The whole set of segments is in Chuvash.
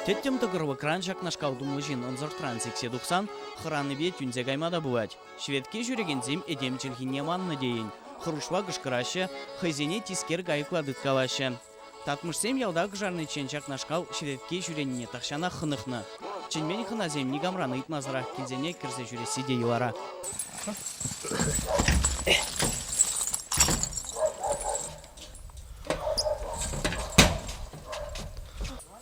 Тӗттӗм тӑкӑрвӑкран ҫакнашкал тумлӑ ҫын ӑнсӑртран сиксе тухсан хӑранипе тӳнсе кайма та пулать. Шведке ҫӳрекенсем этем чӗлхине маннӑ тейӗн, хӑрушла кӑшкӑраҫҫӗ, хӑйсене тискер кайӑкла тыткалаҫҫӗ. Татмӑшсем ялта кӑшарниччен ҫакнашкал черетке ҫӳренине тахҫанах хӑнӑхнӑ. Чӗнмен хӑнасем никамран ыйтмасӑрах килсенех кӗрсе ҫӳресси те йӑлара.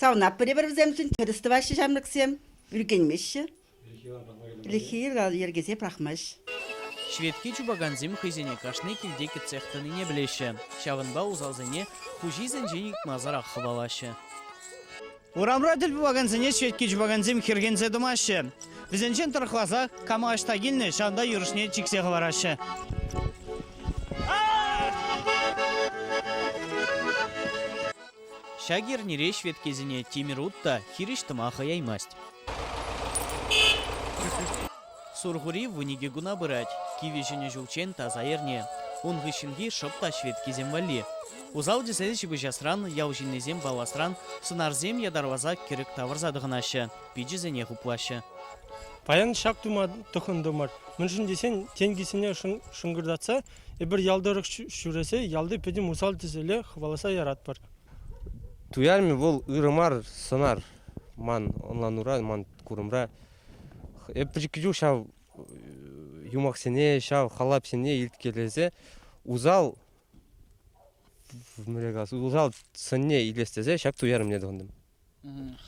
Савнап пӗрепӗр вӗсемшӗн тӗрӗс тӑваҫҫӗ ҫамрӑксем. Ӳркенмеҫҫӗ. Ӗлӗкхи йӗркесе пӑрахмасть. Шведки чупакансем хӑйсене кашни килте кӗтсех тӑнине пӗлеҫҫӗ, ҫавӑнпа усалсене хуҫисенчен ыйтмасӑрах хӑвалаҫҫӗ. Урамра тӗл пулакансене шведки чупакансем хӗрхенсе тӑмаҫҫӗ. Вӗсенчен тӑрӑхласа кама ӑҫта килнӗ, ҫавӑнта юрӑҫне чиксе хӑвараҫҫӗ. Ҫак эрнере ҫветкесене тимӗр ут та хирӗҫ тӑма хӑяймасть. Сурхури вуникӗ куна пырать. Кивӗ ҫӗнӗ ҫулччен таса эрне. Ун хыҫҫӑнхи шӑп та ҫветкесем валли. Усал-тӗсел ҫыпӑҫасран, ял ҫыннисем палласран сӑнарсем ятарласа кӗрӗк тавӑрса тӑхӑнаҫҫӗ, пичӗсене хуплаҫҫӗ. Паян ҫак тума тӑхӑнтӑмӑр, мӗншӗн тесен тенкӗсене шӑнкӑртатса Эпир ял тӑрӑх ҫӳресе ялти пӗтӗм усал-тӗселе хӑваласа яратпӑр. Туярмӗ вӑл ырӑ мар сӑнар ман ӑнланура, ман курӑмра. Эп пӗчӗккӗ чух ҫав юмахсене, ҫав халапсене илткелесе усал усал сӑнне илес тесе ҫак туярӑмне тӑхӑнтӑм.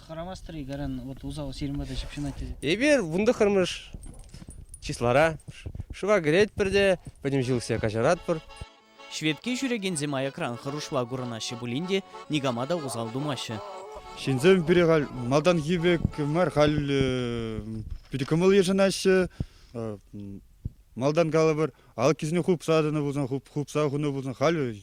Хӑрамастӑр-и каран вот усал ҫырмада ҫыпҫӑнать тесе? Эпир вунтӑхӑрмӗш числора шыва кӗретпӗр те пӗтӗм ҫулсе каҫаратпӑр. Шведке ҫӳрекенсем аякран хӑрушла курӑнаҫҫӗ пулин те никама та усал тумаҫҫӗ. Ҫынсем пире халь малтанхи пек мар, халь питӗ кӑмӑл йышӑнаҫҫӗ. Малтан калӑпӑр алӑккисене хупса тӑнӑ пулсан, хупса хунӑ пулсан, халь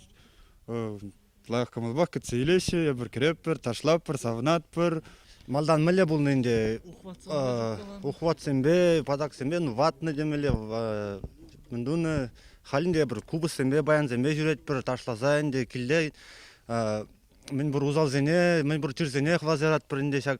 Ытла кӑмӑлпах кӗтсе илеҫҫӗ. Эпир кӗретпӗр, ташлатпӑр, савӑнатпӑр. Малтан мӗнле пулнӑ ӗнтӗ? Ухватсемпе, патаксемпе ну, ватнӑ темелле мӗн тунӑ. Халь ӗнтӗ эпир купӑссемпе, баянсемпе ҫӳретпӗр, ташласа ӗнтӗ килте мӗнпур усалсене, мӗнпур чирсене хӑварса яратпӑр ӗнтӗ ҫак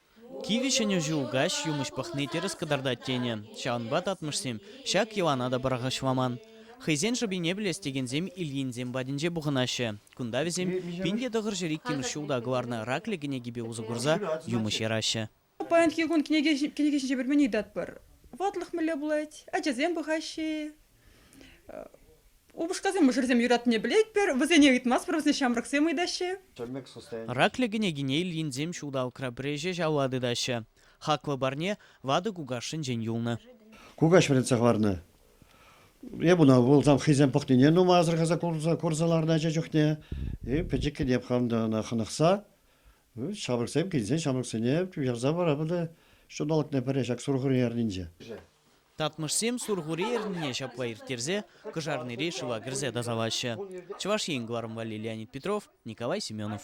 Кивӗ ҫӗнӗ ҫул каҫ юмӑҫ пӑхни тӗрӗс кӑтартать тенӗ. Ҫавӑнпа татмӑшсем ҫак йӑлана та пӑрахӑҫламан. Хӑйсен шӑпине пӗлес текенсем Ильинсем патӗнче пухӑнаҫҫӗ. Кунта вӗсем пин те тӑхӑрҫӗ иккӗмӗш ҫулта кӑларнӑ Раклӗ кӗнекипе усӑ курса юмӑҫ яраҫҫӗ. Паянхи кун кӗнеке ҫинче пӗлмен ыйтатпӑр. Ватлӑх мӗнле пулать? Ачасем пӑхаҫҫӗ-и? Упӑшкасем мӑшӑрсем юратнине пӗлетпӗр, вӗсене ыйтмастпӑр, вӗсене ҫамрӑксем ыйтаҫҫӗ. Раклӗ кӗнекене Ильинсем ҫулталӑкра пӗреҫе ҫавла тытаҫҫӗ. Хаклӑ парне ватӑ кукашшӗнчен юлнӑ. Кукаҫ вӗрентсе хӑварнӑ. Эп ӑна вулсам хӑйсем пӑхнине нумай асӑрхаса курса ларнӑ ача чухне. И пӗчӗккӗне пханнӑ ӑна хӑнӑхса. Ҫамрӑксем килсен ҫамрӑксене ярса парапӑр та ҫулталӑкне пӗре ҫак сурхури эрнинче. Татмӑшсем Сурхури эрнине ҫапла ирттерсе Кӑшарнири шыва кӗрсе тасалаҫҫӗ. Чӑваш Ен кӑларӑм валли Леонид Петров, Николай Семенов.